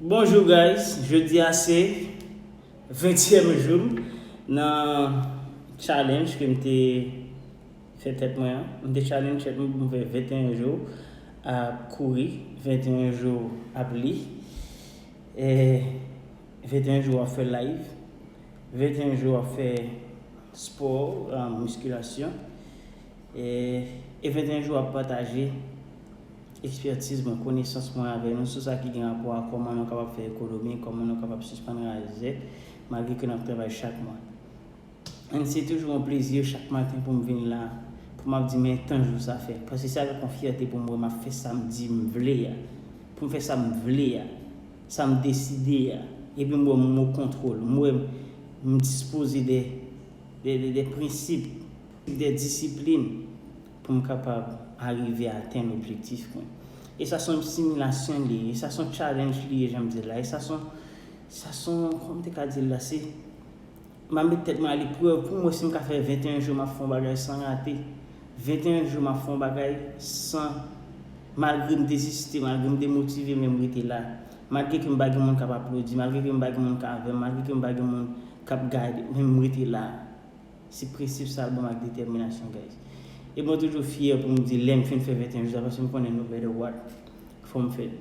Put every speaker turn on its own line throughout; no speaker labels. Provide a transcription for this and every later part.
Bonjour guys jodi a se 20 tième joum nan challenge kem te fè tèt mwen an m te challenge tèt mwen poum fè 21 jou ap kouri 21 jou ap li e 21 jou ap fè live 21 jou ap fè sport miskilasyon e 21 jou ap pataje Ekspertiz mwen, konesans mwen avè nou sou sa ki gen rapò a kòman nou kapab fè ekonomi, kòman nou kapab sispann raje zè, malgre ke nap travay chak mwa. Ann se toujou yon plezi chak maten pou m vin la, pou map di men tan jou sa fè. Paske se avèk yon fyète pou m wè map fè sa m di m vle a, pou m fè sa m vle a, sa m deside a, epi m wè m o kontwol, m wè m dispoze de prensip, de disiplin. Pou m kapab arive atenn objektif mwen. E sa son similasyon li ye. E sa son challenge li ye jan m di l la. E sa son, sa son, kòman m te ka di l la, se, m ap met tèt mwen a leprèv pou m wè si m ka fè 21 jou m ap fè yon bagay san rate. 21 jou m ap fè yon bagay san, malgre m deziste, malgre m demotive men m rete la. Malgre ke m pa gen moun k ap aplodi, malgre ke m pa gen moun k avè m, malgre ke m pa gen moun k ap gade, men m rete la. Se prensip sa banm ak detèminasyon guys. E mwen toujou fyè pou m di lèm fin fè 21 jou sa paske m konnen no matter what fò m fè l.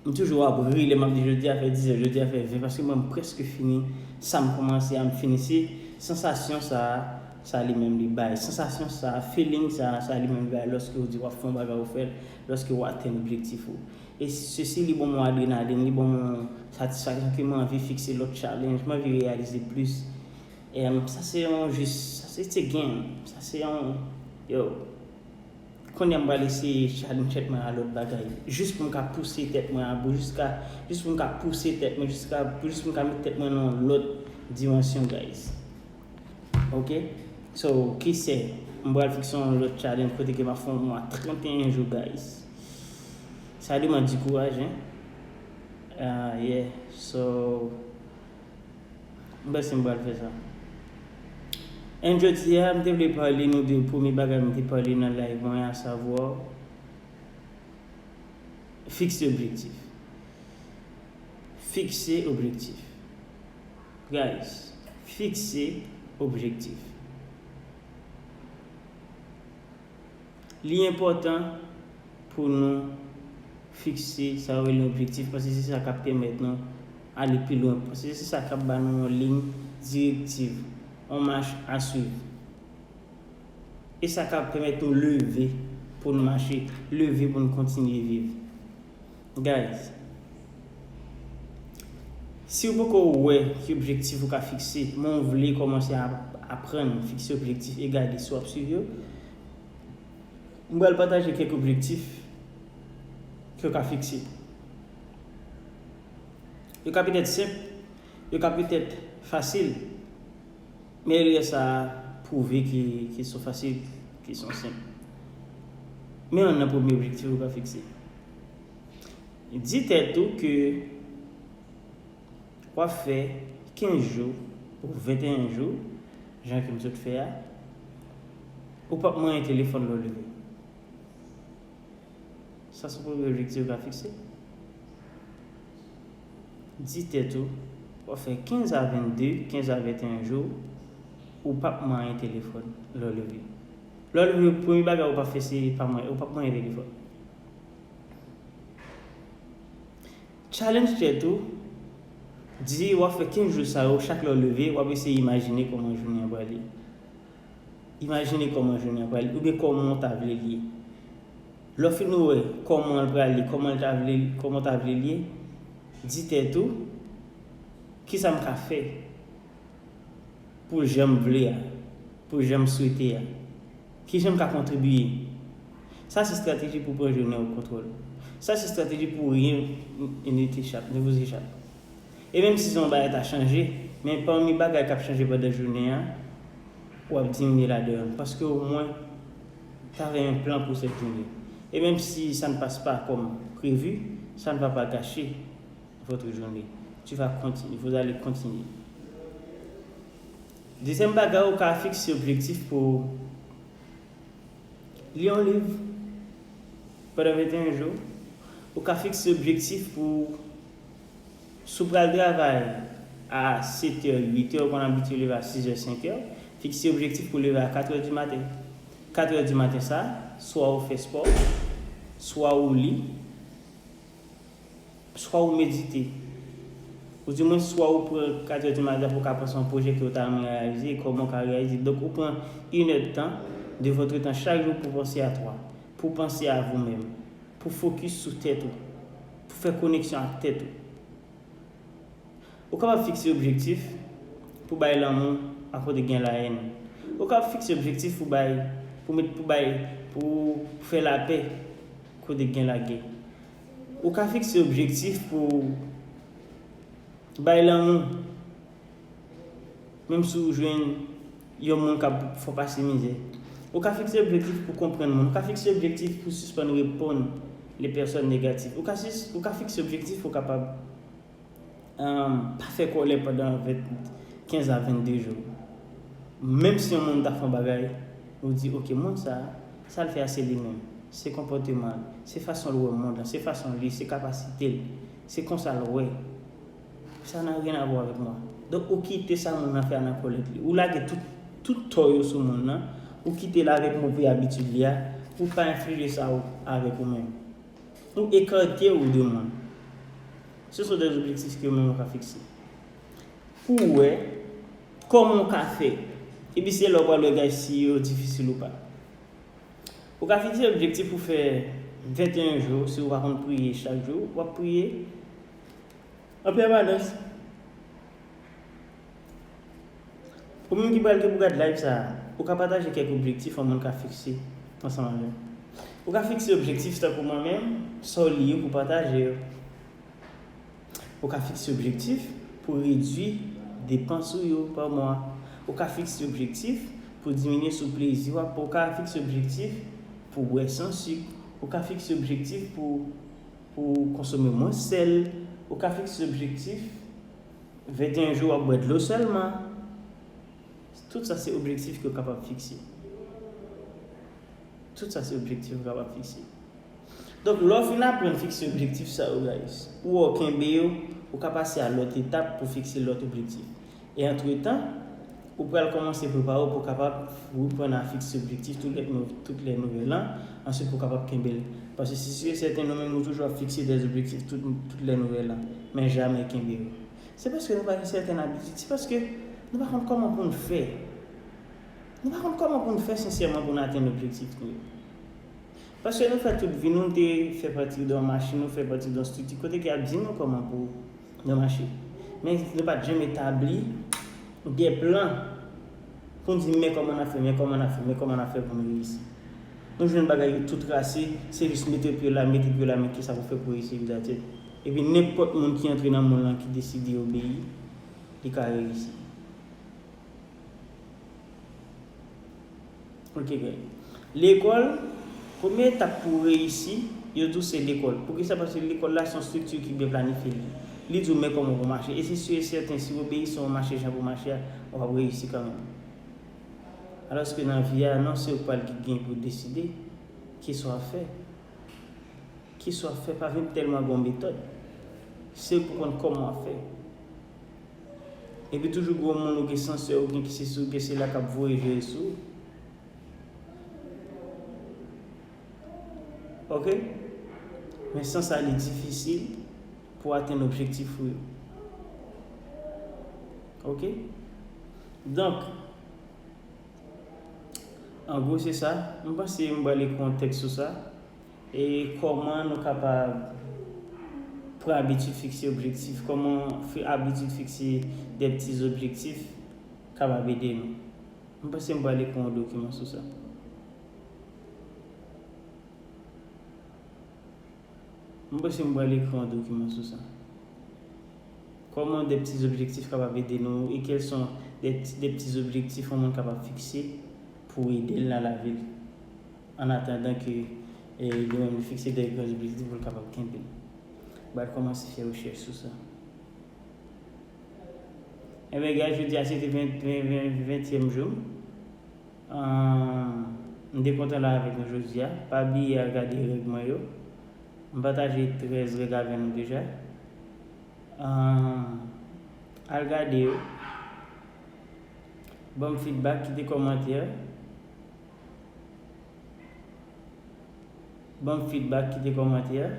M toujou ap ri lè map di jodi a fè 10 an, jodi a fè 20 paske mwen m prèske fini sa m kòmanse a m fini se sansasyon sa a sa li menm li bay. Sansasyon sa a, feeling sa a sa li menm li bay lòske ou di wap fè yon bagay ou fè l, lòske ou atenn objektif ou. E sesi li banm yon adrenalin, li banm yon satisfaksyon ke m anvi fikse lòt challenge, m anvi reyalize plis. Em sa se yon jis sa se ti game sa se yon yo Kounye a m pral eseye challenge tèt mwen a lòt bagay jis pou m ka pouse tèt mwen a bou jiska jis pou m ka pouse tèt mwen jiska pou jis pou m ka mete tèt mwen nan yon lòt dimansyon guys ok so kisè m pral fikse yon lòt challenge kote ke m ap fè yon mwa 31 jou guys sa deman di kouraj hein ahh yeah so. M panse m pral fè sa. And jodi a m te vle pale nou de premye bagay m te pale nan live mwen a savwa fikse objektif. Fikse objektif. Guys, fikse objektif. Li enpòtan pou nou fikse sa yo rele objektif paske se sa k ap pèmèt nou ale pi lwen, paske se sa k ap ba nou yon liy direktiv, yon mach a swiv. E sa k ap pèmèt nou leve pou n mache, leve pou n kontinye viv. Guys Siw poko wè ki objektif ou ka fikse men ou vle kòmanse aprann fikse objektif e gade si wap swiv yo m pral pataje kèk objektif kew ka fikse yo ka petèt senp yo ka petèt fasil Men erè sa a pwouve ke kesyon fasil, kesyon senp. Men youn nan premye objektif ou ka fikse. Di tèt ou ke w ap fè 15 jou ou 21 jou, jan ke m sot fè a, ou p ap manyen telefòn lè w leve. Sa se premye objektif ou ka fikse. Di tèt ou, w ap fè 15 a 22, 15 a 21 jou ou p ap manyen telefòn lè w leve. Lè w leve, premye bagay ou p ap fè se pa manyen, ou p ap manyen telefòn. Challenge tèt ou, di w ap fè 15 jou sa yo, chak lè w leve, w ap eseye imajine kòman jounen an pral ye. Imajine kòman jounen an pral, oubyen kòman w ta vle l ye. Lè w fin wè kòman l pral ye, kòman l ta vle, kòman w ta vle l ye, di tèt ou, Kisa m ka fè pou l jan m vle a, pou l jan m swete a? Kijan m ka kontribiye? Sa se estrateji pou pran jounen w kontwòl. Sa se estrateji pou ryen nete chak, nevoze chak. E menm si son bagay ta chanje, men pami bagay kap chanje pandan jounen an, wap diminye la dehonne paske o mwen ta fè yon plan pou cette journée. Et même si ça ne passe pas comme prévu, ça ne va pas gâcher votre journée. Tu vas continuer, vous allez continuer. Dezyèm bagay ou ka fikse objektif pou ou li yon liv pandan 21 jou, ou ka fikse objektif pou ou. Si w pral travay a 7 è, 8 è, ou konn abitye leve a 6 è, 5 è, fikse objektif pou w leve a 4 è di maten. 4 è di maten sa, swa ou fè spò, swa ou li, swa ou medite. Ou di mwen swa ou pran 4 è di maten pou w ka panse yon pwojè ke ou ta renmen reyalize e kòman ou ka reyalize. Donk ou pran yn è tan de votre tan chak jou pou w panse a 3. Pou w panse a vou menm. Pou w fokis sou tèt ou. Pou fè koneksyon ak tèt ou. Ou kapab fikse objektif pou bay lanmou a kote gen laèn. Ou kapab fikse objektif pou bay, pou met, pou bay, pou fè lapè kote gen lagè. Ou ka fikse objektif pou bay lanmou menm si w jwenn. Yon moun kab fò pase mizè. Ou ka fikse objektif pou konprann moun. Ou ka fikse objektif pou sispann reponn le pèsòn negatif. Ou ka fikse objektif pou kapab pa fè kòlè pandan 15 a 22 jou. Menm si yon moun ta fè yon bagay, ou di ok moun sa, sa l fè a se li menm. Se konpòteman l, se fason l wè mond lan, se fason l ye, se kapasite l, se konsa l wè. Sa nan rien à voir avec moi. Donk ou kite sa moun nan fè a nan kolèt li. Ou lage tout tout tò yo sou moun nan, ou kitel avèk move abitid li a, ou pa enflije sa ou avèk ou menm. Ou ekarte ou de moun. Ce sont des objectifs ke yo menm yo ka fikse. Pou ou wè kòman ou ka fè. Epi se la ou pral wè gaj si yo difisil ou pa. Ou ka fikse objektif pou fè 21 jou si ou pa konn priye chak jou, wap priye. An pèmanans Ou menm ki pral gen pou gad layv sa a, ou ka pataje kèk objektif yon moun ka fikse ansanm avè m. Ou ka fikse objektif tankou mwen menm, sa w li yo pou w pataje yo. Ou ka fikse objektif pou w redui depans ou yo pa mwa. Ou ka fikse objektif pou w diminye sou plezi w ap pran. Ou ka fikse objektif pou w bwè san sik. Ou ka fikse objektif pou. Pou w konsome mwens sèl, ou ka fikse objektif 21 jou w ap bwè dlo sèlman. Tout sa se objektif ke w kapab fikse. Tout sa se objektif ou kapab fikse. Donk, lè w fin aprann fikse objektif sa yo guys, ou wè w kenbe yo, ou ka pase a lòt etap pou fikse lòt objektif. E antretan, ou pral kòmanse prepare w pou w kapab reprann a fikse objektif tout lè nouvèl an, answit pou w kapab kenbe l. Paske se si e sèten nou menm nou toujou ap fikse dè objektif tout lè nouvèl an, men jamè kenbe yo. Se paske nou pa gen sèten abitid, se paske nou pa konn kòman pou n fè. Nou pa konn kòman pou n fè sensèman pou n atenn objektif nou yo. Paske nou fè tout vi nou te fè pati de yon machin, nou fè pati de yon strikti kote ke y ap di nou kòman pou. nan mache. Men nou pat janm etabli de plan pou n di men kòman n ap fè, men kòman n ap fè, men kòman n ap fè pou n reyisi. Nou jwenn bagay yo tou trase, se jis mete pye la, mete pye la men kisa pou fè pou reyisi epi datèt. Epi nenpòt moun ki antre nan monn lan ki deside obeyi, li ka reyisi. Ok guys. Lekòl, premye etap pou w reyisi, yo di w se lekòl. Poukisa? Paske lekòl la se yon strikti ki byen planifye. Li di w men kòman pou w mache. E se si e sèten, si w obeyi san w mache jan pou w mache a, w ap reyisi kanmenm. Alòske nan vi a, non se ou k pral ki gen pou deside, ki sa w ap fè. Ki sa w ap fè pa vin tèlman gen yon metòd. Se ou k pou konn kòman w ap fè. Epi toujou gwo moun ou gen sansè ou gen kisisi ou gen sela kap voye veye sou ou. Ok. Men san sa li difisil pou atenn objektif ou yo. Ok. Donk. An gwo se sa. M panse m bale kontèks sou sa. E kòman nou kapab pran abitid fikse objektif? Kòman abitid fikse de pti objektif kapab ede nou? M panse m pral ekri yon dokiman sou sa. M panse m pral ekri yon dokiman sou sa. Kòman de pti objektif kapab ede nou e kèlson de pti objektif yon moun kapab fikse pou ede l nan lavi l? An atandan ke li menm li fikse de gran objektif pou l kapab kenbe. Ba l kòmanse fè rechèch sou sa. Enben gad jodi a se te ventyèm jou m. M te kontan la avèk nou jodi a. Pa bliye al gade règ mwen yo. M pataje 13 règ avè nou deja. Al gade yo. Ban m fidbak, kite kòmantè. Banm feedback kite kòmantè e.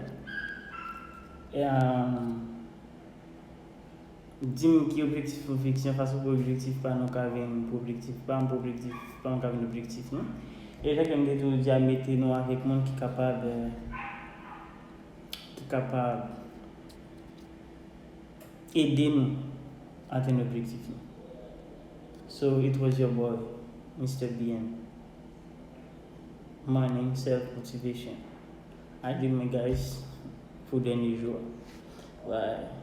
Dim ki objektif ou fikse an fas ou pou objektif pa nou ka vin pou objektif pam pou objektif pam ka vin objektif nou. E jan kem te toujou di a mete nou avèk moun ki kapab ki kapab ede nou atenn objektif nou so it was your boy Mister BM morning self motivation I do my guys pou dènye jou a bye.